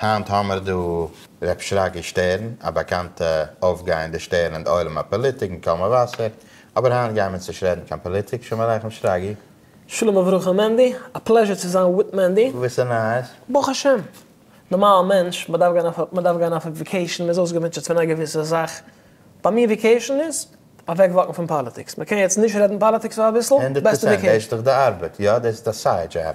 היינט האמער דא ר' שרגי שטערן, א באקאנטע אויפגייענדע שטערן אין די עולם הפאליטיק און קאמא וואסער, אבער היינט גייען מיר נישט רעדן קיין פאליטיק, שלום עליכם שרגי. שלום וברכה מענדי, א פלעזשער צו זיין וויט מענדי. געוויסע נייעס? ברוך השם. נארמאלע מענטש, מען דארף גיין אויף מען דארף גיין אויף וועקעישן, מען איז אויסגעמוטשעט פון א געוויסע זאך, ביי מיר וועקעישן איז, אוועק וואקן פון פאליטיקס, מען קען יעצט נישט רעדן פאליטיקס פאר אביסל, בעסטע וועקעישן. הונדערט פראצענט דאס איז די ארבעט, יא דאס איז א סייד זשאב,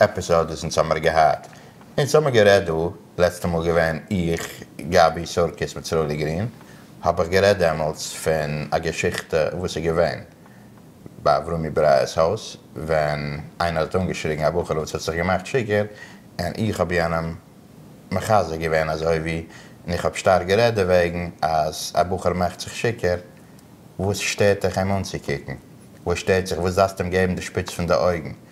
עפיסאד וואס אונז האמער געהאט, אונז האמער גערעדט דא, לעצטע מאל געווען איך, גבי, סורקיס מיט סרולי גרין, האב איך גערעדט דעמאלטס פון א געשיכטע וואס איז געווען ביי אברומי ברייערס הויז, ווען איינער האט אנגעשריגן א בחור'ל וואס האט זיך געמאכט שיכור, און איך האב יענעם מחזק געווען אזוי ווי, און איך האב שטארק גערעדט דערוועגן אז א בחור מאכט זיך שיכור, וואס שטערט דיך אים אנצוקוקן? וואס שטערט זיך? וואס דארפסטו אים געבן די שפיץ פון די אויגן?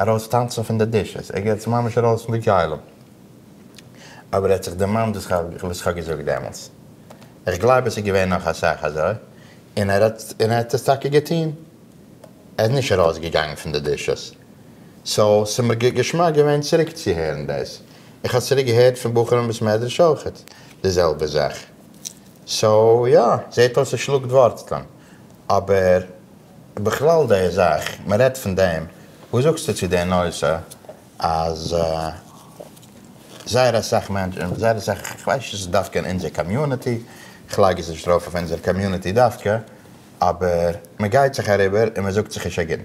ארויס טאנצן פון די דישעס, ער גייט ממש ארויס פון די ג'עולם, אבער ער האט זיך דערמאנט וואס איך האב געזאגט דעמאלטס, איך גלייב עס איז געווען נאך אסאך אזוי, און ער האט עס טאקע געטון, ער איז נישט ארויס געגאנגען פון די דישעס, סאו ס'איז מיר געשמאק געווען צוריק צו הערן דאס, איך האב צוריק געהערט פון בחורים מבית מדרש אויך די זעלבע זאך, סאו יא, זעט אויס עס שלאגט ווארצלען, אבער. בכלל די זאך, מען רעדט פון דעם, וואס זאגסטו צו די נושא אז זייער אסאך מענטשן, זייער אסאך, איך ווייס נישט צו ס'איז דווקא אין אונזער קאמיוניטי, איך לייג עס נישט ארויף אויף אונזער קאמיוניטי דווקא, אבער מען גייט זיך אריבער און מען זאגט זיך נישט א גוט,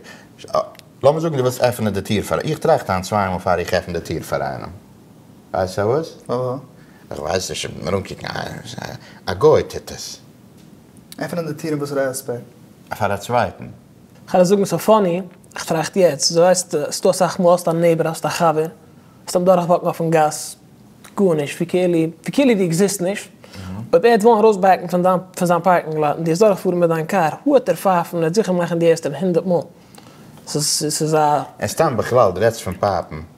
לאמיר זאגן דו ווילסט עפענען די טיר פאר, איך טראכט היינט צוויי מאל פאר איך עפן די טיר פאר איינעם, ווייסט פארוואס? איך ווייס נישט, איך בין ארומקוקן, א גוי טוט עס. עפענען די טירן וואס רעספעקט. פאר א צווייטן. כ'על זאגן ס'איז פאני, כ'טראכט יעצט, זו הייסט עס טו אסאך מאל, האסט א נעיבער, האסט א חבר, האסט אים דורכוואקן אויפן גאס, גארנישט, ווי כאילו, ווי כאילו דו עקזיסט נישט, אויב ער האט וואלן ארויסבעקן פון דיין, פון זיין פארקינג לאט, און דו האסט דורכגעפארן מיט דיין קאר, הא העט ער פייפן, ער העט זיכער מאכן די ערשטע הונדערט מאל, ס'איז א. סתם בכלל, דו רעדסט פון פייפן,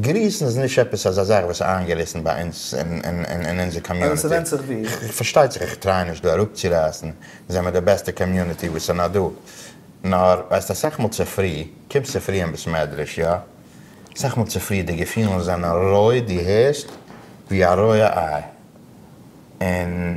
גריסן איז נישט עפעס אזא זאך וואס איז איינגעריסן ביי אונז אין אונזער קאמיוניטי. אבער ס'ווענדט זיך ווי. פארשטייט זיך איך טריי נישט דא אראפצורייסן, זעמער די בעסטע קאמיוניטי וואס איז נאר דא. נאר ווייסט אסאך מאל צופרי, קומסט צופרי אין בית מדרש, יא? אסאך מאל צופרי די געפילן זענען רויט, דו הערסט ווי א רויע איי. און.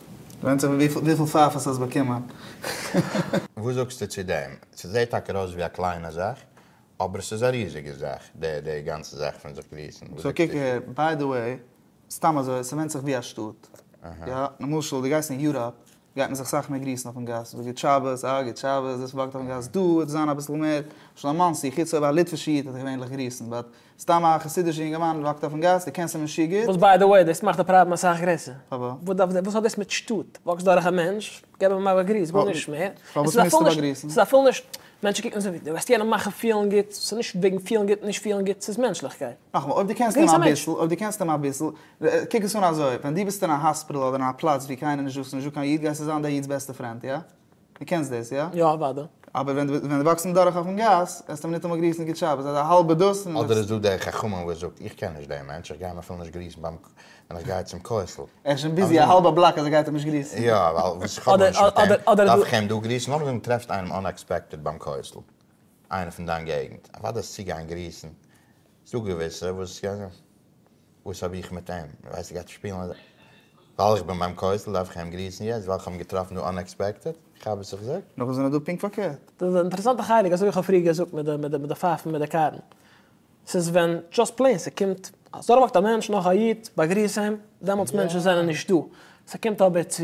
ווענדט זיך וויפיל פייפערס האסט באקומען. וואס זאגסטו צו דעם? ס'זעהט טאקע ארויס ווי א קליינע זאך, אבער ס'איז א ריזיגע זאך, די גאנצע זאך פון זיך גריסן. סאו קוק, ביי די וועי, סתם אזוי, ס'ווענדט זיך ווי א שטאט. יא, למשל, דו גייסט אין יוראפ, גייט מען זיך סאך מער גריסן אויפן גאס, וואס גוט שבת, אה, גוט שבת, דאס וואקט אויפן גאס, דא וועט עס זיין אביסל מער, למשל אין מאנסי, חוץ אויב א ליטווישע איד וועט דיך געווענליך גריסן, באט סתם א חסידישע יונגערמאן וואס וואקט אויפן גאס, דו קענסט אים נישט גוט. וואס ביי דע וועי דאס מאכט די פראבלעם אסאך גרעסער. פארוואס? וואס דארף דער וואס האט דאס מיט שטאט? וואקסט דורך א מענטש, געב אים א באגריס, גארנישט מער. פארוואס מוזטו באגריסן? ס'איז אפילו נישט, מענטשן קוקן אזוי ווי דו וועסט יענעם מאכן פילן גוט, ס'איז נישט וועגן פילן גוט נישט פילן גוט, ס'איז מענטשליכקייט. נאכאמאל, אויב דו קענסט אים אביסל, אויב דו קענסט אים אביסל, קוק עס אן אזוי, ווען דו ביסט אין א האספיטל אדער אין א פלאץ ווי קיינער נישט דא, ס'איז נישט דא קיין איד, גייסטו זיין דער איד'ס בעסטע פרענד, איא? דו קענסט דאס, איא? יא, אוודאי. אבער ווען דו ווען דו וואקסט אדורך אויפן גאס, וועסטו ניטאמאל גריסן גוט שבת, אזא האלבע דאס און. אדער איז דא דער חכמון וואס זאגט, איך קען נישט דעם מענטש, איך גיי אים אפילו נישט גריסן ביים ק, ווען איך גיי צום כותל. ער איז שוין ביזי א האלבע בלאק אז ער גייט אים נישט גריסן. יא, ווייל וואס איך האב נישט מיט אים, דארף איך אים דא גריסן? נאכדעם דו טרעפסט איינעם אנעקספעקטעד ביים כותל, איינער פון דיין געגנט, אוודאי אז צוגיין גריסן זאג געוויסע וואס יא וואס האב איך מיט אים ווייסט ער גייט שפילן אזוי ווייל איך בין ביים כותל דארף איך אים גריסן יעצט ווייל איך האב אים געטראפן דא אנעקספעקטעד איך האב וואס איך זאג. נאך וואס זענען דא פונקט פארקערט. די אינטערעסאנטע חלק אזוי ווי איך האב פריער געזאגט מיט די מיט די פייפן מיט די קארן ס'איז ווען דזשאסט פלעין ס'קומט אז דורכוואקט א מענטש נאך א איד באגריס אים דעמאלטס מענטשן זענען נישט דא ס'קומט אבער צו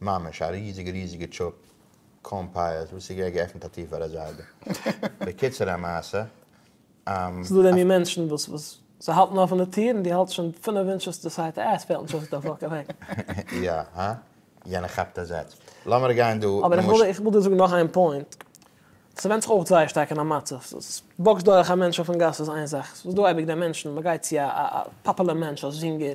ממש א ריזיגע ריזיגע טשופ קארן פייערס וואס איז געווען געעפנט א טיר פאר א זיידע. בקיצור המעשה. ס'איז דא דעם מין מענטשן וואס וואס זיי האלטן אפן די טיר און דו האלטסט שוין פינף אינטשעס צו ס'הייט אה עס פעלט נישט אויס דער פאקינג וועג. יא הא? יענער כאפט א זעץ. לאמיר גיין דא. אבער איך וויל איך וויל דיר זאגן נאך איין פוינט. ס'ווענדט זיך אויך זייער שטארק אין א מצב. וואקסט דורך א מענטש אויפן גאס איז איין זאך. ס'איז דא אייביג די מענטשן, מ'גייט צו א פאפולער מענטש, א זינגער,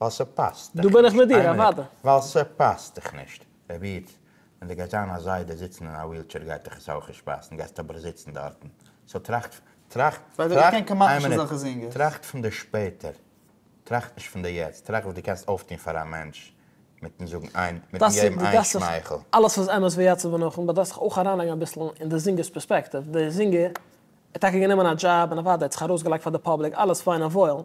ווייל ס'פאסט דיך נישט. דא בין איך מיט דיר, אוודאי. ווייל ס'פאסט דיך נישט. רבי'טע, ווען דו גייסט זיין א זיידע זיצן אין א ווילטשעיר גייט דיך עס אויך נישט פאסן, גייסט אבער זיצן דארטן. סאו טראכט, טראכט, טראכט, איין מינוט, טראכט פון די שפעטער, טראכט נישט פון די יעצט, טראכט וואס דו קענסט אויפטון פאר א מענטש, מיטן זאגן איין, מיטן געבן איין שמייכל. אלעס איז אמת ויציב ונכון, באט דארפסט זיך אויך אריינלייגן אביסל אין די זינגער'ס פערספעקטיוו. דער זינגער האט טאקע גענומען א דזשאב, און אוודאי האט זיך ארויסגעלייגט פאר די פאבליק, אלעס פיין און וואויל,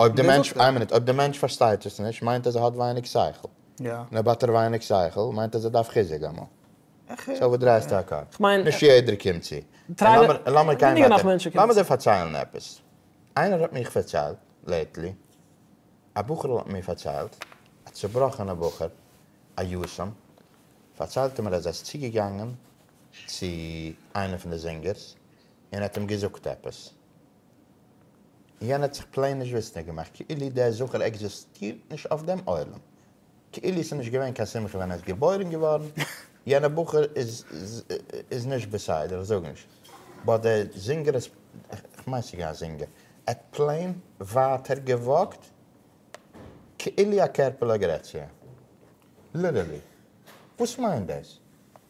אויב דער מענטש, איין מינוט, אויב דער מענטש פארשטייט עס נישט מיינט אז ער האט ווייניג שכל, און אויב האט ער ווייניג שכל מיינט אז ער דארף חיזוק אמאל. סאו וואס דרייסטו א קאפ? נישט יעדער קומט צו. און לאמיר גיין ווייטער, לאמיר דיר פארציילן עפעס. איינער האט מיך פארציילט לעיטלי, א בחור'ל האט מיר פארציילט, א צובראכענע בחור, א יתום, פארציילט ער מיר אז ער איז צוגעגאנגען צו איינע פון די זינגערס און ער האט אים געזאגט עפעס, יענער האט זיך פלעין נישט וויסנדיג געמאכט כאילו דער זכר עקזיסטירט נישט אויף דעם עולם, כאילו ס'איז נישט געווען קיין שמחה ווען ער איז געבוירן געווארן, יענער בחור איז נישט בסדר, איך זאג נישט, באט דער זינגער איז, כ'מיין ס'איז געווען א זינגער, ער האט פלעין ווייטער געוואקט כאילו א קערפעלע עגרעסיע, ליטערלי, וואס מיינט דאס?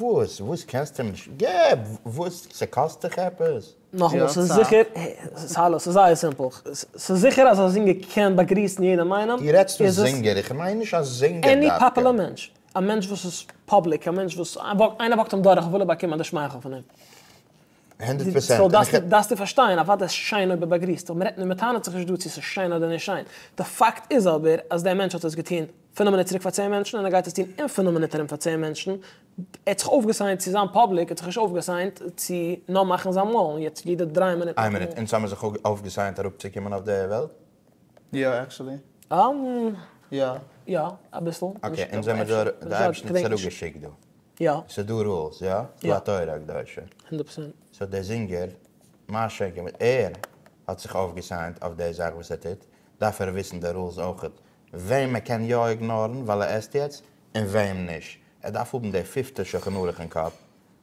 וואס? וואס קענסט אים נישט? געב וואס ס'קאסט דיך עפעס? נאכאמאל, ס'איז זיכער, האלא, ס'איז זייער סימפל. ס'איז זיכער אז א זינגער קען באגריסן יעדעם איינעם. דו רעדסט פון זינגער, איך מיין נישט א זינגער דווקא. עני פאפולער מענטש. א מענטש וואס איז פאבליק, א מענטש וואס איינער וואקט אים דורך וויל ער באקומען די שמייכל פון אים. הונדערט פראצענט. סאו דארפסטו פארשטיין, אוודאי איז שיין אויב ער באגריסט, אבער מ'רעדט נישט, מ'טענה'ט זיך נישט דא צו ס'איז שיין אדער נישט שיין. די פאקט איז אבער אז דער מענטש האט עס געטון פינעף מינוט צוריק פאר צען מענטשן, און ער גייט עס טון אין פינעף מינוט ארום פאר צען מענטשן. ער האט זיך אויפגעסיינט צו זיין פאבליק, ער האט זיך נישט אויפגעסיינט צו נאר מאכן זיין מאל, און יעצט יעדע דריי מינוט. איין מינוט, אונז האמיר זיך אויפגעסיינט אראפצוקומען אויף די וועלט, יא עקשעלי. יא. יא אביסל. אקעי אונז זעמער דא די אייבערשטן צוריק געשיקט דא. יא. סאיז דא רולס יא? יא. פאר תורה הקדושה. הונדערט פראצענט. סאו דער זינגער מה שקר ווען ער האט זיך אויפגעסיינט אויף די זאך וואס ער טוט דארף ער וויסן די רולס אויכעט וועם ער קען יא איגנארן ווייל ער עסט יעצט און וועם נישט ער דארף האבן די פיפטע שולחן ערוך אין קאפ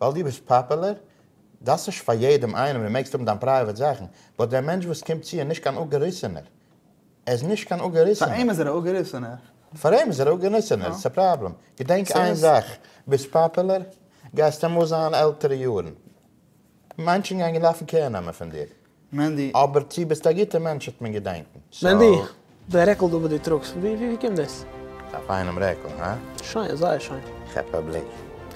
ווייל דו ביסט פאפעלער? דאס נישט פאר יעדעם איינעם, דו מעגסט האבן דיין פרייוועט זאכן, באט דער מענטש וואס קומט צו איז נישט קיין אפגעריסענער, ער איז נישט קיין אפגעריסענער. פאר אים איז ער א אפגעריסענער. פאר אים איז ער א אפגעריסענער, דאס איז א פראבלעם. געדענק איין זאך, ביסט פאפעלער, גייסטו אמאל זיין עלטערע יארן, מענטשן גייען געלאפן קער נעמען פון דיר. מענדי, אבער צו ביסט א גוטע מענטש וועט מען געדענקן, מענדי, סאו. די רעקל דא וואס דו טראגסט, ווי ווי קומט דאס? א פיינעם רעקל, הא? שיין, זייער שיין. כאפ א בליק.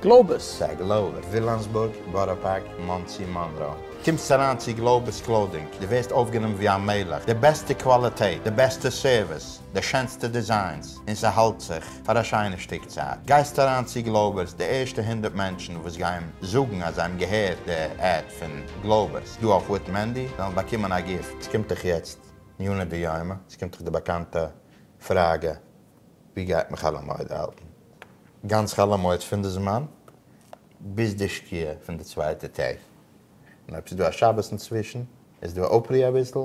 גלאובעס? סא גלאובער, ווילאמסבורג, בארא פארק, מאנסי, מאנרא. קומסט אריין צו גלאובערס קלאודינג, דו ווערסט אויפגענומען ווי א מלך, די בעסטע קוואליטעט, די בעסטע סערוויס, די שענסטע דיזיינס, און ס'האלט זיך פאר א שיינע שטיק צייט. גייסט אריין צו גלאובערס, די ערשטע הונדערט מענטשן וואס גייען זאגן אז זיי האבן געהערט די עד פון גלאובערס, ס'דא אויף וויט מענדי וועלן באקומען א גיפט. ס'קומט דאך יעצט מעיינא דיומא, ס'קומט דאך די באקאנטע פראגע, ווי גייט מען חול המועד האלטן? גאנץ חול המועד פון די זמן ביז די שקיעה פון די צווייטע טעג, און אויב ס'איז דא א שבת אינצווישן איז דא אפרי אביסל,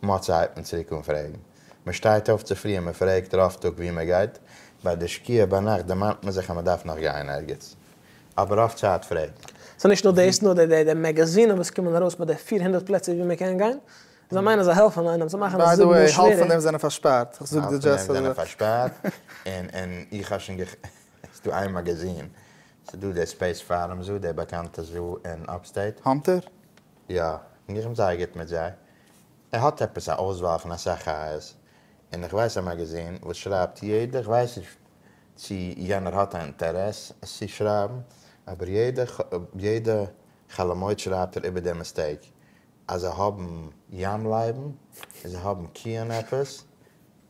מוצאי הייבט מען צוריק אן פרעגן, מ'שטייט אויף צו פרי און מ'פרעגט רוב טאג ווי מ'גייט, ביי די שקיעה ביינאכט דערמאנט מען זיך אז מ'דארף נאך גיין ערגעץ, אבער אויף צייט פרעגן. ס'איז נישט נאר דאס, נאר די די מעגאזינען וואס קומען ארויס מיט די פֿיר הונדערט פלעצער ווי מען קען גיין, זיי מיינען זיי העלפן איינעם, זיי מאכן עס זיבן מאל שווערער. ביי די וועי, האלב פון דעם זענען פארשפארט, איך זאג דיר דזשאסט פאר די. האלב פון דעם זענען פארשפארט, און און איך האב שוין געכ. ס'איז דא איין מאגאזין, ס'איז דא די ספעיס פארום זאל, די באקאנטע זאל אין אפסטעיט. האנטער? יא, און איך בין זייער גוט מיט זיי. ער האט עפעס א אויסוואל פון אסאך חיות, און איך ווייס א מאגאזין וואס שרייבט יעדע, איך ווייס נישט צי יענער האט א אינטערעס עס צי שרייבן, אבער יעדע חלומות שרייבט ער איבער די מיסטעיק אז זיי האבן ים לייבן און זיי האבן קיען עפעס,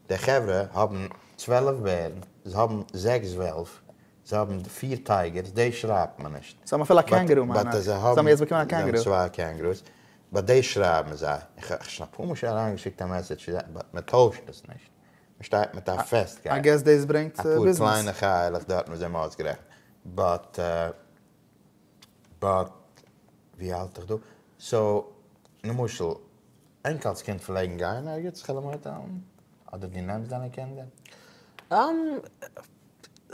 די חברה האבן צוועלף בערן, זיי האבן זעקס וועלף, זיי האבן פיר טייגערס, דעיס שרייבט מען נישט. זיי האבן אפילו א קענגערו מיין איך, זיי האבן יעצט באקומען א קענגערו. זיי האבן צוויי קענגערוס, באט דעיס שרייבן זיי, איך האב שוין אפאר מאל שוין אריינגעשיקט א מעסעדזש צו זיי באט מען טוישט עס נישט. מען שטייט מיט א פעסט געפ, אפאר קליינע חי'לעך דארטן וואס זיי האבן אויסגערעכנט, באט באט ווי האלט איך דא, סאו למשל ענקעלס קינד פלעגן גיין ערגעץ חעלעמויטעלן? אדער דו נעמסט דיינע קינדער?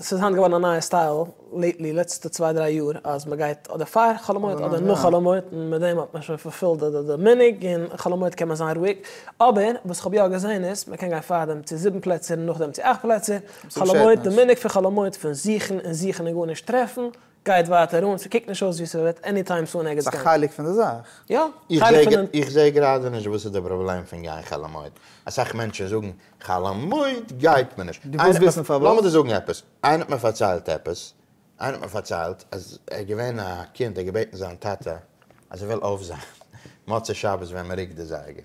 ס'איז היינט געווארן א נייע סטייל לעיטלי לעצטע צוויי דריי יאר אז מ'גייט אדער פאר חול המועד אדער נאך חול המועד און מיט דעם האט מען שוין פארפילט די מנהג און חול המועד קען מען זיין רואיג אבער וואס כ'האב יא געזען איז מ'קען גיין פארדעם צו זיבן פלעצער און נאכדעם צו אכט פלעצער חול המועד די מנהג פון חול המועד פון זוכן און זוכן און גארנישט טרעפן גייט ווייטער אן, ס'קוקט נישט אויס ווי ס'וועט עני טיים סאון ערגעץ גיין. ס'איז א חלק פון די זאך. יא, חלק פון די. איך זעה גראדע נישט וואס איז די פראבלעם פון גיין חול המועד. אסאך מענטשן זאגן חול המועד גייט מען נישט. דו ווילסט וויסן פארוואס? לאמיר דיר זאגן עפעס, איינער האט מיר פארציילט עפעס, איינער האט מיר פארציילט אז ער איז געווען א קינד, ער האט געבעטן זיין טאטע אז ער וויל אויפזיין מוצאי שבת ווען מ'רוקט די זייגער.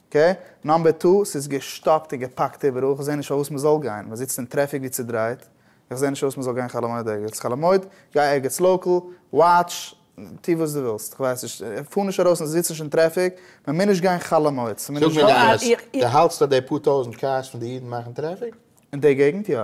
ק, נאמבער טו, ס'איז געשטאפט און געפאקט איבעראל, כ'זע נישט פארוואס מ'זאל גיין, מ'זיצט אין טרעפיק ווי צודרייט, איך זע נישט פארוואס מ'זאל גיין חאלעמויד ערגעץ, חאלעמויד, גיי ערגעץ לאקעל, וואטש, טו וואס דו ווילסט, כ'ווייס נישט, פאר נישט ארויס און זיץ נישט אין טרעפיק, מ'מוז נישט גיין חאלעמויד, ס'מוז נישט זאג מיר די אמת, דו האלטסט אז די פאר טויזענט קארס פון די אידן מאכן טרעפיק? אין די געגענט יא.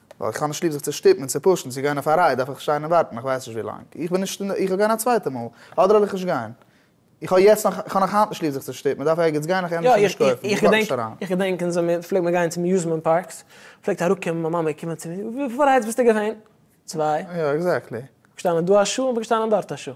ווייל איך האב נישט ליב זיך צו שטופן און צו פושן צו גיין אויף א רייד דארף איך שטיין און ווארטן איך ווייס נישט ווי לאנג איך בין נישט איך וועל גיין א צווייטע מאל אדער וועל איך נישט גיין איך האב יעצט נאך איך האב נאך היינט נישט ליב זיך צו שטופן מען דארף ערגעץ גיין איך ענדערש וועל נישט קויפן איך ווארט נישט אריין. איך געדענק אונז ווען פלעגט מען גיין צום אמיוזמענט פארקס פלעגט אראפקומען מיין מאמע קומען צו מיר וויפיל ריידס ביסטו געווען? צוויי. יא עקזעקטלי. געשטאנען דא א שעה און געשטאנען דארט א שעה.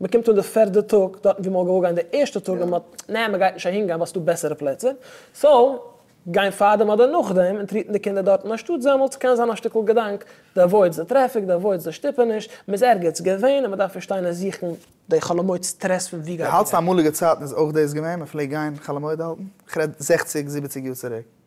מען קומט אן די פערדע טאג דארטן ווי מען האט געוואלט גיין די ערשטע טאג און מען האט נע מען גייט נישט אהין גיין ווייל ס'איז דא בעסערע פלעצער סאו גיין פארדעם אדער נאכדעם און טריטן די קינדער דארטן אנשטאט זעמל'ס קען זיין א שטיקל געדאנק די אוואוידס די טרעפיק די אוואוידס די שטופעניש מען איז ערגעץ געווען און מען דארף נישט שטיין און זוכן די חאלעמויד סטרעס פון ווי גייט מען גיין. אלץ אמאליגע צייטן איז אויך דאס געווען מען פלעגט גיין חאלעמויד האלטן איך רעד זעכציג זיבעציג יאר צוריק.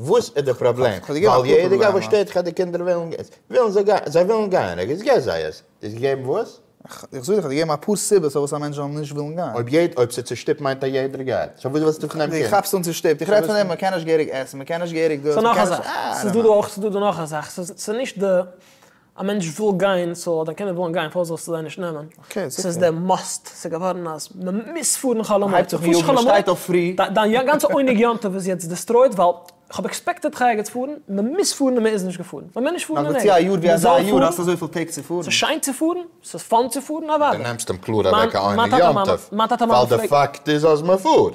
וואס איז די פראבלעם? ווייל יעדער גייט וואס שטערט דיך אז די קינדער ווילן געז? ווילן זיי גייען? זיי ווילן גייען? ער געז געב זיי עס. איז געגעבן וואס? איך זאג דיך אז געגעבן אפאר סיבות פארוואס א מענטש זאל נישט ווילן גיין. אויב יעד אויב ס'איז צושטופט מיינט אז יעדער גייט. סאו וואס ווילסטו פון דעם קינד? די כאפסט אן צושטופט? איך רעד פון דעם מ'קען נישט געהעריג עסן, מ'קען נישט געהעריג דאס, ס'איז דא מ'קען נישט נאך א זאך. ס'איז דא דא נאך א זאך. ס'איז נישט די. א מענטש וויל גיין סאו האט א קינד ווילן גיין פארוואס זאלסטו זיי נישט נעמען? ס'איז די מאסט, ס'איז געווארן אז מ'מוז פארן חאלעמוט, מ'הייבט זיך פון יאגן, מ'שטייט אויף פרי. דיין גאנצע עונג יום טוב איז יעצט דיסטרויט ווייל כ'האב עקספעקטעד חיה גוטס פארן, מ'מוז פארן און מ'איז נישט געפארן, מ'מעג נישט פארן און עי, מ'זאל פארן, ס'איז שיין צו פארן, ס'איז פאן צו פארן אוודאי. די נעמסט אים קלאר אוועק א עונג יום טוב, ווייל די פאקט איז אז מ'פארט.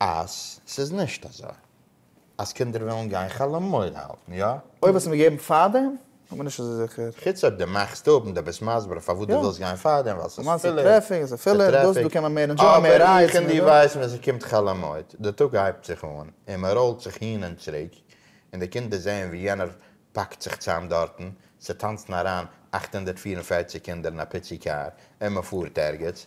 אז ס'איז נישט אזוי אז קינדער ווילן גיין חלומות האלטן, יא? אויב האסטו מיר געגעבן פארדעם, כ'בין נישט אזוי זיכער. חוץ אויב דו מאכסט אפ און דו ביסט מסביר פארוואס דו ווילסט גיין פארדעם, ווייל ס'איז פילער, ס'איז טרעפיק, די טרעפיק, אבער איך און דו ווייסן ווען ס'קומט חלומות, די טאג הייבט זיך אן און מ'ראולט זיך הין און צוריק, און די קינדער זעען ווי יענער פאקט זיך צאם דארטן, ס'טאנצן אריין אַכט הונדערט פֿיר און פֿערציק קינדער אין א פיצי קאר און מ'פארט ערגעץ.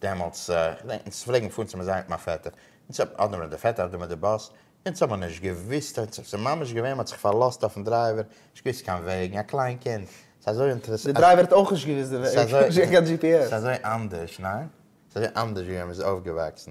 דעמאלטס, אונז פלעגן פארן צום מוזיאם מיט מיין פעטער, אונז האבן אדער מיט די פעטער אדער מיט די באס, אונז האבן נישט געוואוסט, אונז האט זיך ממש געווען, מ'האט זיך פארלאזט אויפן דרייווער, נישט געוואוסט קיין וועגן, א קליין קינד, ס'איז אזוי אינטערעס. די דרייווער האט אויך נישט געוואוסט די וועג, נישט געהאט קיין דזשי פי עס. ס'איז אזוי אנדערש, ניין? ס'איז אזוי אנדערש ווי ווען מ'איז אויפגעוואקסן,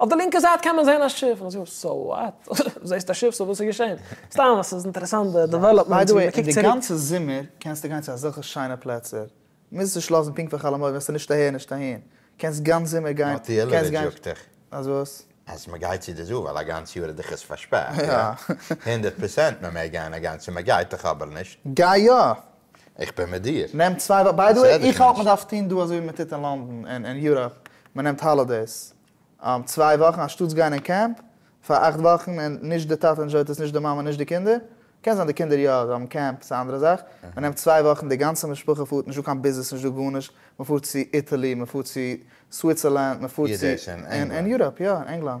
אויף די לינקע זייט קען מען זען א שיף, מ'זאגט אים סאו וואט? זעסט א שיף, סאו וואס איז געשען? סתם אז ס'איז אינטערעסאנט די דעוועלאפמענטס ווי מ'קוקט צוריק. די גאנצע זומער קענסטו גיין צו אזעלכע שיינע פלעצער, מוזט נישט לאזן פונקט פאר חול המועד, וועסטו נישט אהער נישט אהין, קענסט גאנץ זומער גיין, נאר קענסט גיין, טעלעווידזש זאגט דאך אז וואס? אז מ'גייט צו די זאל ווייל א גאנץ יאר איז דאך עס פארשפארט, יא? הונדערט פראצענט מ'מעג גיין א גאנצע, מ'גייט דאך אבער נישט. גיי יא! איך בין מיט דיר. נעם צוויי וואכן, ביי די וועי איך האלט מען דארף טון דא אזוי ווי מען טוט אין לאנדאן און אין יוראפ, מען נעמט האלידעיס, צוויי וואכן אנשטאטס גיין אין קעמפ פאר אכט וואכן און נישט די טאטע ענדזשויט עס נישט די מאמע נישט די קינדער, קען זיין די קינדער יא זיי האבן קעמפ ס'איז א אנדערע זאך, מען נעמט צוויי וואכן די גאנצע משפחה פארט נישט דא קיין ביזנעס נישט דא גארנישט, מען פארט צו איטעלי מען פארט צו סוויצערלענד מען פארט צו אין יוראפ יא אין ענגלאנד.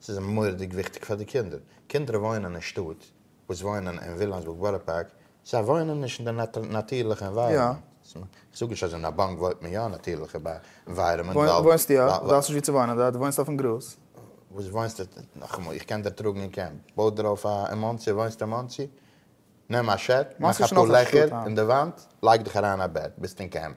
ס'איז מורא'דיג וויכטיג פאר די קינדער. קינדער וואוינען אין שטאט, וואס וואוינען אין ווילאמסבורג בארא פארק, זיי וואוינען נישט אין די נאטירליכע ענווייראמענט. כ'זאג נישט אז אין א באנק וואוינט מען יא אין נאטירליכע ענווייראמענט, ווייל. וואוינסט יא, דו האסט נישט וואו צו וואוינען דארט, דו וואוינסט אויפן גראז. וואס וואוינסטו, נאכאמאל, איך קען דערטראגן אין קעמפ, בוי דיר אויף אין מאנסי, וואוינסט אין מאנסי, נעם א שעק, מאך אפאר לעכער אין די וואנט, לייג דיך אריין אין א בעט, ביסט אין קעמפ.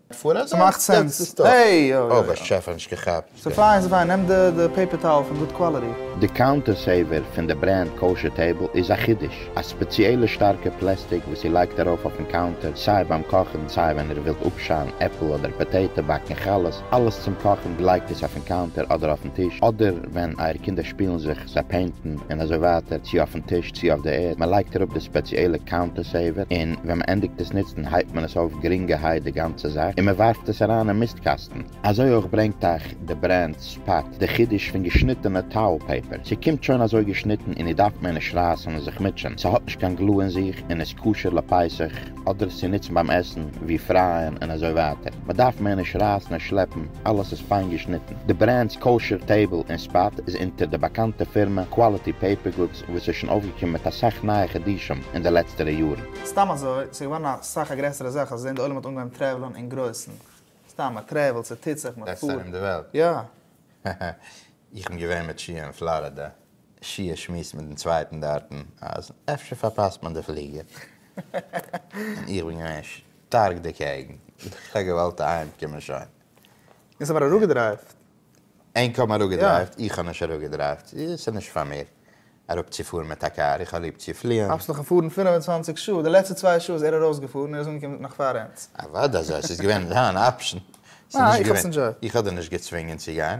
ס'מאכט סענס. העי! אוי באשעפער נישט געכאפט. ס'פיין ס'פיין, נעם די פעיפער טאועל פון גוד קוואליטי. די קאונטער סעיווער פון די ברענד קאושער טעיבל איז א חידוש, א ספעציעלע שטארקע פלעסטיק וואס איר לייגט ארויף אויפן קאונטער סיי ביים קאכן סיי ווען איר ווילט אפשיילן עפל אדער פאטעיטא, באקן חלות, אלעס צום קאכן, גלייגט עס אויפן קאונטער אדער אויפן טיש, אדער ווען אייער קינדער שפילן זיך. זיי פעינטן און אזוי ווייטער צו אויפן טיש צו אויף די ערד, מען לייגט אראפ די ספעציעלע קאונטער סעיווער און ווען מען ענדיגט עס נוצן הייבט מען עס אויף גרינגערהייט די גאנצע זאך און מען ווארפט עס אריין אין מיסט קאסטן. אזוי אויך ברענגט אייך די ברענד ספאט די חידוש פון געשניטענע טאועל פעיפער, ס'קומט שוין אזוי געשניטן און איר דארפט מער נישט רייסן און זיך מוטשען, ס'האט נישט קיין גלו אין זיך און איז כשר לפסח אדער עס צו נוצן ביים עסן ווי פרייען און אזוי ווייטער, מען דארף מער נישט רייסן און שלעפן. אלעס איז פיין געשניטן. די ברענדס קאושער טעיבל און ספאט איז אונטער די באקאנטע פירמע קוואליטי פעיפער גודס וואס איז שוין אויפגעקומען מיט אסאך נייע חידושים אין די לעצטערע יארן. סתם אזוי, ס'איז געווארן אסאך א גרעסערע זאך אז אין די עולם האט אנגעהויבן טרעוולען אין גרויסן. סתם, מען טרעוולט, ס'טוט זיך, מען פארט. רעדסט ארום די וועלט? יא. איך בין געווען מיט שיע אין פלארידע. שיעור שמועסן מיט דעם צווייטן דארטן אז אפשר פארפאסט מען די פליגער, און איך בין געווען שטארק דערקעגן, איך האב געוואלט אהיים קומען שוין. אונז האבן אראפגעדרייווט. ענק האבן אראפגעדרייווט, איך האב נישט אראפגעדרייווט, עס איז נישט פאר מיר אראפצופארן מיט א קאר, איך האב ליב צו פליען. האסט נאך געפארן פֿינף און צוואַנציק שעה, די לעצטע צוויי שעה איז ער ארויסגעפארן, ער איז אנגעקומען נאך פאר אונז. אוודאי, ס'איז געווען אן אפשן, איך האב דיר נישט געצווינגען צו גיין,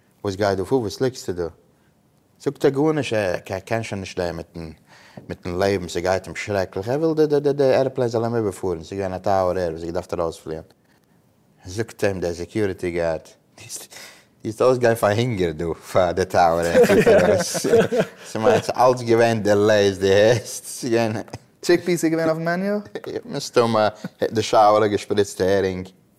וואס גייט דא פאר? וואס ליגסטו דא? זאגט ער גארנישט, ער ער קען שוין נישט דעם מיטן מיטן לעבן, ס'גייט אים שרעקליך, ער וויל די די די עראפלעין זאל אים איבערפארן, ס'איז געווען א טאוער ער וואס האט געדארפט ארויספליען, זאגט אים דער סעקיוריטי גארד, דו וועסט אויסגיין פאר הונגער דא פאר די טאוער ער פירט דיר ארויס, ס'מיינט ס'איז אלץ געווען דילעיס דו הערסט? ס'איז געווען. טשיק פיס איז געווען אויפן מעניו? מסתמא די שאוער האט געשפריצט הערינג.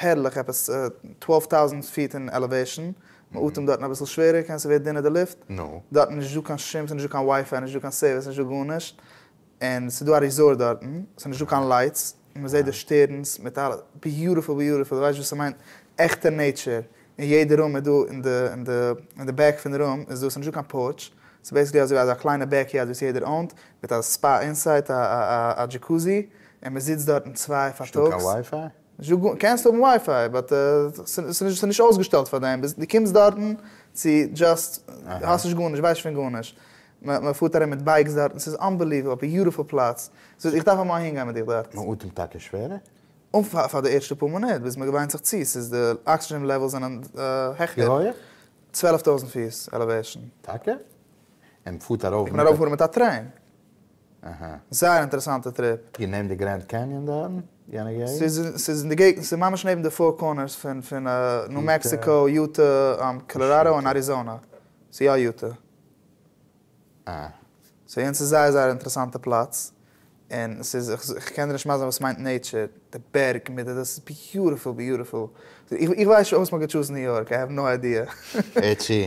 הערליך, עפעס טוועלף טאוזענט פיט אין עלעוועישאן, מען אטעמט דארטן אביסל שווערער, כעין ס'ווערט דינער די לופט, דארטן איז נישטא קיין שום, ס'איז נישטא קיין ווייפיי, נישטא קיין סערוויס, נישטא גארנישט, און ס'איז דא א ריזארט דארטן, ס'איז נישטא קיין לייטס, און מ'זעט די שטערנס מיט אלעס, ביוטיפול ביוטיפול, די ווייסט וואס ס'מיינט עכטע נעיטשער, און יעדע רום איז דא אין די אין די אין די בעק פון די רום איז דא, ס'איז נישטא קיין פארטש, ס'איז בעיסיקלי אזויווי אזא קליינע בעק יארד וואס יעדער אוינט, מיט א ספא אינסייט, א א א דזשיקוזי, און מ'זיצט דארטן צוויי פארטאגס. נישטא גאר, קענסט האבן ווייפיי באט ס'איז נישט אויסגעשטעלט פאר דעם, ביז דו קומסט דארטן צו דזשאסט האסט נישט גארנישט ווייסט פון גארנישט, מ'פארט ארום מיט בייקס דארטן ס'איז אנבעליוועבל, ביוטיפול פלאץ, ס'איז איך דארף אמאל אהינגיין מיט דיך דארט. מ'אטעמט טאקע שווערער? פאר די ערשטע פאר מינוט ביז מ'געוויינט זיך צו, ס'איז די אקסידזשען לעוועלס זענען העכער. ווי הויעך? צוועלף טויזנט פיס עלעוועישן. טאקע? און מ'פארט ארויף מיט א. מ'קען ארויפפארן מיט א טרעין. אהא. זייער אינטערעסאנטע טריפ. איר נעמט די גרענד קעניאן דא אין יענע געגנט? ס'איז אין די געגנט, ס'איז ממש נעבן די פאור קארנערס פון פון ניו מעקסיקא, יוטע, קאלאראדא און אריזאנע. ס'איז יא יוטע. אה. סאו יענץ איז זייער זייער אינטערעסאנטע פלאץ. און ס'איז איך קען דיר נישט מסביר וואס מיינט נעטשער. די בערג מיט די דאס איז ביוטיפול ביוטיפול. איך ווייס שוין וואס מ'האט געטשוזן ניו יארק, איי העוו נאו איידיע. עטשי.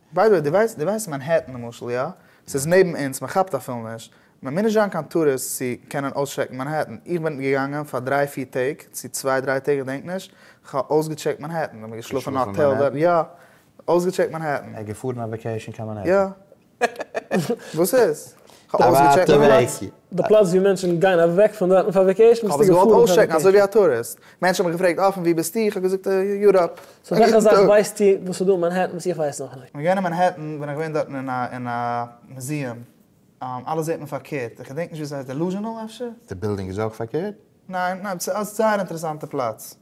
ביי די וועי, די ווייסט מאנהעטן למשל, יא? ס'איז נעבן אונז, מען כאפט אפילו נישט. מען מוז נישט זיין קיין טוריסט צו קענען אויסטשעקן מאנהעטן. איך בין געגאנגען פאר דריי פיר טעג, צו צוויי דריי טעג, כ'דענק נישט, כ'האב אויסגעטשעקט מאנהעטן. איך האב געשלאפן אין א האטעל דארט, יא. אויסגעטשעקט מאנהעטן. ער איז געפארן אויף וועקעישן קיין מאנהעטן. יא. וואס איז? כ'האב אויסגעטשעקט מאנהעטן. די פלאץ ווי מענטשן גייען אוועק פון דארטן פאר וועקעישן ביסטו געפארן פאר וועקעישן? כ'האב עס געוואלט אויסטשעקן אזוי ווי א טוריסט, מענטשן האבן מיך געפרעגט אה פון וואו ביסטו? כ'האב געזאגט יוראפ. סאו וועלכע זאך ווייסטו וואס איז דא אין מאנהעטן וואס איך ווייס נאכנישט? כ'בין געווען אין מאנהעטן, בין איך געווען דארטן אין א אין א מוזיעם, אלעס זעט מען פארקערט, איך געדענק נישט ווי עס הייסט דעלוזשענעל אפשר? די בילדינג איז אויך פארקערט? ניין, ניין, ס'איז זייער אינטערעסאנטע פלאץ.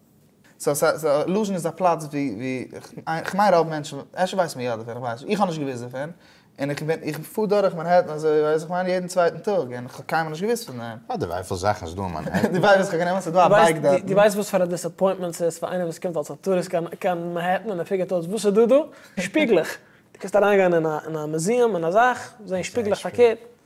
סא סא סא לוזשין איז א פלאץ ווי ווי כ'מיין רוב מענטשן, אפשר ווייסט מען יא דערפון, כ'ווייס נישט, איך האב נישט געוואוסט דערפון, און איך בין איך פאר דורך מאנהעטן אזוי ווייס איך מיין יעדן צווייטן טאג, און כ'האב קיינמאל נישט געוואוסט פון דעם. אה די ווייפיל זאכן איז דא אין מאנהעטן. די ווייפיל זאכן כ'נעם אן ס'איז דא א בייק דארטן. די ווייסט וואס פאר א דיסעפוינטמענט ס'איז פאר איינער וואס קומט אלס א טוריסט קיין קיין מאנהעטן און ער פיגערט אויס וואס איז דא דא? שפיגלעך! די קענסט אריינגיין אין א אין א מוזיעם אין א זאך, זען שפיגלעך פארקערט.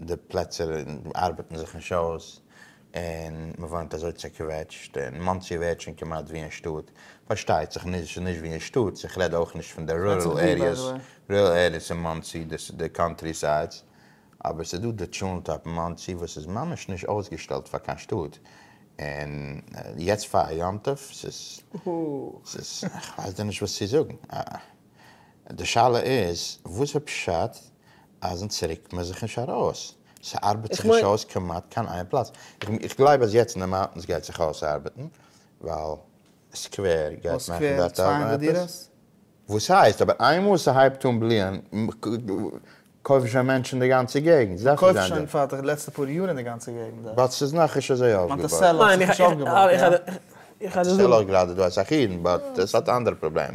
די פלעצער ארבעטן זיך נישט אויס און מ'וואוינט אזוי צעקוועטשט און מאנסי ווערט שוין כמעט ווי אין שטאט, פארשטייט זיך נישט נישט ווי אין שטאט, איך רעד אויך נישט פון די רורעל עריעס, רורעל עריעס אין מאנסי, די קאנטרי סיידס, אבער ס'איז דא די טשולנט אפן מאנסי וואס איז ממש נישט אויסגעשטעלט פאר קיין שטאט, און יעצט פאר א יום טוב, ס'איז, ס'איז, כ'ווייס דיר נישט וואס צו זאגן. די שאלה איז וואס איז פשט אז אונז רוקט מען זיך נישט ארויס? ס'ארבעט זיך נישט אויס כמעט קיין איין פלאץ. איך גלייב אז יעצט אין די מאונטענס גייט זיך אויסארבעטן ווייל סקווער גייט מאכן דארט עפעס. וואס הייסט? אבער איינמאל ס'הייבט אן בליען קויפן שוין מענטשן די גאנצע געגנט. זיי קויפן שוין פאר די לעצטע פאר יאר אין די גאנצע געגנט דארט. באט ס'איז נאכנישט אזוי אויפגעבויט. איך האב געוואלט יא. איך שטעל אויך גראדע דא אסאך אידן באט עס האט אנדערע פראבלעם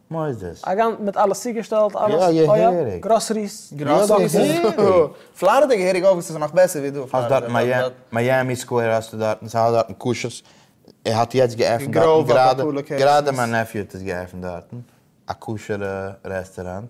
מוסדות. א גאנ מיט אלעס צוגעשטעלט אלעס יא געהעריג. גראסעריס. פלארידע געהעריג אויך וואס איז נאך בעסער ווי דא. האסט דארט מיאמי סקווער האסטו דארטן סאיז אלעס דארטן כשר'ס ער האט יעצט געעפנט דארטן גראדע גראדע מיין נעפיו האט עס געעפנט דארטן א כשר'ע רעסטעראנט.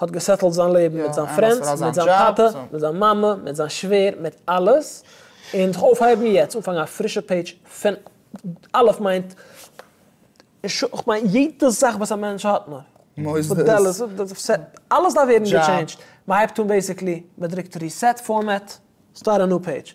האט געסעטלט זיין לעבן מיט זיין פרענדס, מיט זיין טאטע, מיט זיין מאמע, מיט זיין שווער, מיט אלעס, און זיך אויפהייבן יעצט, אנפאנגען א פרישע פעידזש פון אלף מיינט, כ'מיין יעדע זאך וואס א מענטש האט נאר, אלעס דארף ווערן געטשעינדזשד, מ'הייבט אן בעיסיקלי, מ'דרוקט ריסעט פארמעט, סטארט א ניו פעידזש,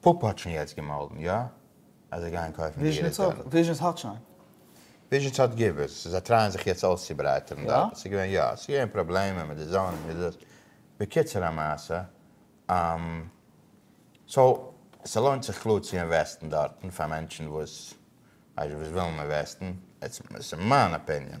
פאפא האט שוין יעצט געמאלדן יא אז זיי גייען קויפן די עיר איז דאן. וויזשענס האט שוין. וויזשענס האט געוויס, זיי טרייען זיך יעצט אויסצוברייטערן דארט, עס איז געווען יא, עס איז געווען פראבלעמען מיט די זאונינג מיט דאס, בקיצור המעשה, סאו ס'לוינט זיך קלאר צו אינוועסטן דארטן פאר מענטשן וואס וואס ווילן אינוועסטן, עטס ס'מיין אפיניען.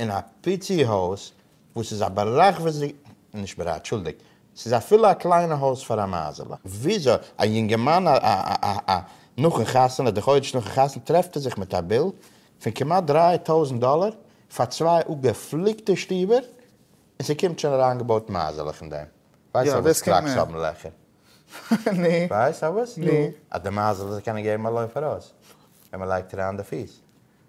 אין א פיצי הויז וואס איז א ברחבי נישט ברח אנטשולדיגט ס'איז אפילו א קליינע הויז פאר א מייזעלע. וויאזוי א יונגערמאן נאכן חתונה די חודש נאכן חתונה טרעפט ער זיך מיט א ביל פון כמעט דרײַ טויזנט דאלער פאר צוויי אפגעפליקטע שטובער און ס'קומט שוין אריינגעבויט מייזעלעך אין דעם? ווייסט א וואס קראקס האבן לעכער? נו. ווייסט א וואס? נו. אז די מייזעלעך זאל קענען געבן א לויף ארויס ווען מ'לייגט אריין די פיס.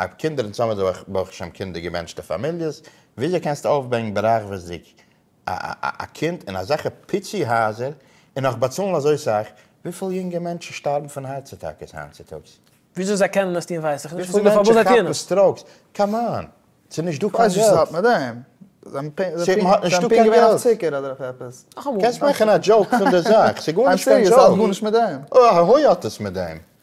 אויב קינדער און צאמען זיי ברוך השם קינדער געבענטשטע פאמיליעס, וויאזוי קענסטו אויפבענקן ברחבות'דיג א קינד אין אזעלכע פיצי הייזער און נאך באצאלן אזוי סאך? וויפיל יונגע מענטשן שטארבן פון הארץ אטאקעס היינט צוטאגס? וויאזוי זיי קענען עס טון ווייס איך נישט, וויפיל מענטשן כאפן סטראוקס? קאם אן! ס'איז נישט דא קיין געלט! זיי האט נישט דא קיין געלט! קענסט מאכן א דזשאוק פון די זאך, ס'איז גארנישט קיין דזשאוק! אוי הוי האט עס מיט דעם!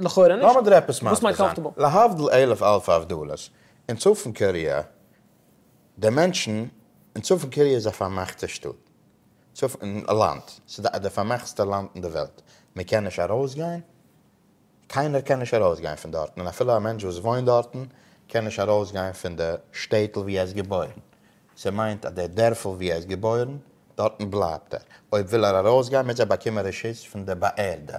לכאורה נישט. לאמיר דיר עפעס מסביר זיין. וואס מיינט קאמפארטעבל? להבדיל אלף אלפי הבדלות, אין צפון קארעא, די מענטשן, אין צפון קארעא איז א פארמאכטע שטאט, צפון, לאנד, ס'איז די פארמאכסטע לאנד אין די וועלט, מען קען נישט ארויסגיין, קיינער קען נישט ארויסגיין פון דארטן, און אפילו א מענטש וואס וואוינט דארטן, קען נישט ארויסגיין פון די שטעטל וואו ער איז געבוירן, ס'מיינט אז די דערפל וואו ער איז געבוירן, דארטן בלייבט ער, אויב וויל ער ארויסגיין מוז ער באקומען רשות פון די באערדע,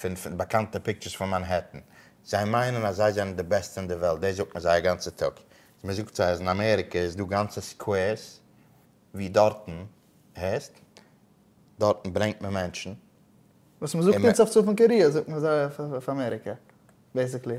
פון פון באקאנטע פיקטשערס פון מאנהעטן, זיי מיינען אז זיי זענען די בעסטע אין די וועלט, דאס זאגט מען זיי א גאנצע טאג, אז מען זאגט זיי אז אין אמעריקע איז דא גאנצע סקווערס ווי דארטן, הערסט? דארטן ברענגט מען מענטשן. וואס מען זאגט אונז אויף צפון קאריע זאגט מען זיי אויף אמעריקע, בעיסיקלי.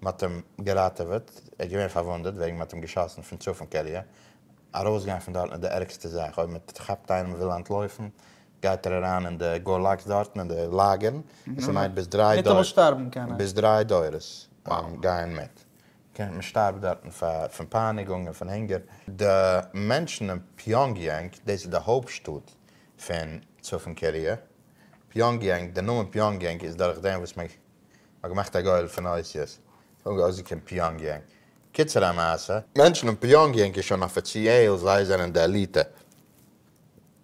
מען האט אים געראטעוועט, ער איז געווען פארוואונדעט וועגן מען האט אים געשאסן פון צפון קאריע, ארויסגיין פון דארטן איז די ערגסטע זאך, אויב מען כאפט איינעם וויל אנטלויפן גייט ער אריין אין די גולאגס דארטן אין די לאגערן, און ס'מיינט ביז דריי דורות, ניטאמאל שטארבן קען ער. ביז דריי דורות גייען מיט, מען שטארבט דארטן פון פייניגונג און פון הונגער. די מענטשן אין פיאנגיענג, דאס איז די הויפט שטאט פון צפון קאריע, פיאנגיענג, די נאמען פיאנגיענג איז דורך דעם וואס מען האט געמאכט א גורל פון אותיות און האט אויסגעקומען פיאנגיענג. קיצור המעשה. מענטשן אין פיאנגיענג איז שוין אפיציעל זיי זענען די עליטע.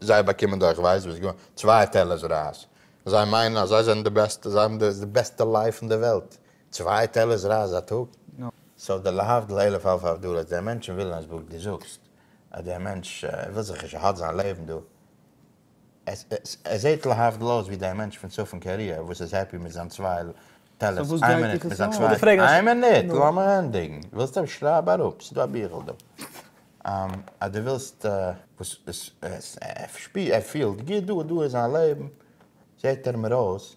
זיי באקומען דורך ווייסט וואס גאר צוויי טעלערס רייז. זיי מיינען אז זיי זענען די בעסטע, זיי האבן די בעסטע לייף אין די וועלט. צוויי טעלערס רייז א טאג? סאו די להבדיל אלף אלפי הבדלות, די מענטשן ווילן אז וואס די זאגסט אז דער מענטש וויל זיך נישט, ער האט זיין לעבן דא. עס זעהט להבדל אויס ווי די מענטש פון צפון קאריע וואס איז העפי מיט זיין צוויי טעלערס איין מינוט מיט זיין צוויי איין מינוט לאמיר ענדיגן ווילסט אויף שרייב אראפ ס'דא א ביכל דא אז די ווילסט וואס ער פילט גוט דא דא איז זיין לעבן זעהט ער מיר אויס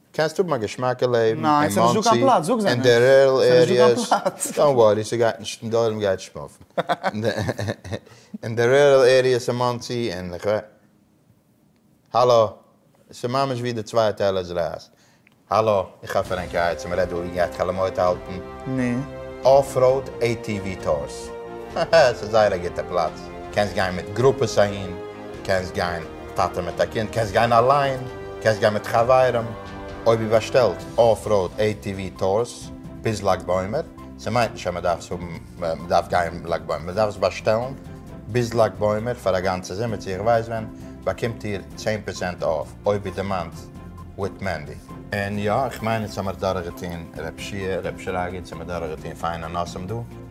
קענסט האבן א געשמאקע לעבן אין מאנסי און די רורעל עריעס, דאנט ווארי ס'גייט נישט און די עולם גייט שמאפן אין די רורעל עריעס אין מאנסי און איך ווייס האלא ס'ממש ווי די צוויי טעלער זרייסט האלא איך האף פרענקי הייטס און מ'רעדט דא ווי מ'גייט חלומות האלטן אף ראוד עי טי ווי טורס הא הא ס'איז זייער א גוטע פלאץ קענסט גיין מיט גרופעס אהין קענסט גיין. טאטע מיט א קינד, קענסט גיין אליין, קענסט גיין מיט חברים, אויב איר באשטעלט אף ראוד עי טי ווי טורס ביז לג בעומר, ס'מיינט נישט אז מ'דארף עס האבן, מ'דארף גיין לג בעומר, מ'דארף עס באשטעלן ביז לג בעומר פאר א גאנצע זומער צו איך ווייס ווען, באקומט איר צען פראצענט אף, אויב איר דערמאנט וויט מענדי. און יא, איך מיין יעצט האמיר דורכגעטוהן רב שיע, רב שרגא, יעצט האמיר דורכגעטוהן פיינע נושאים דא.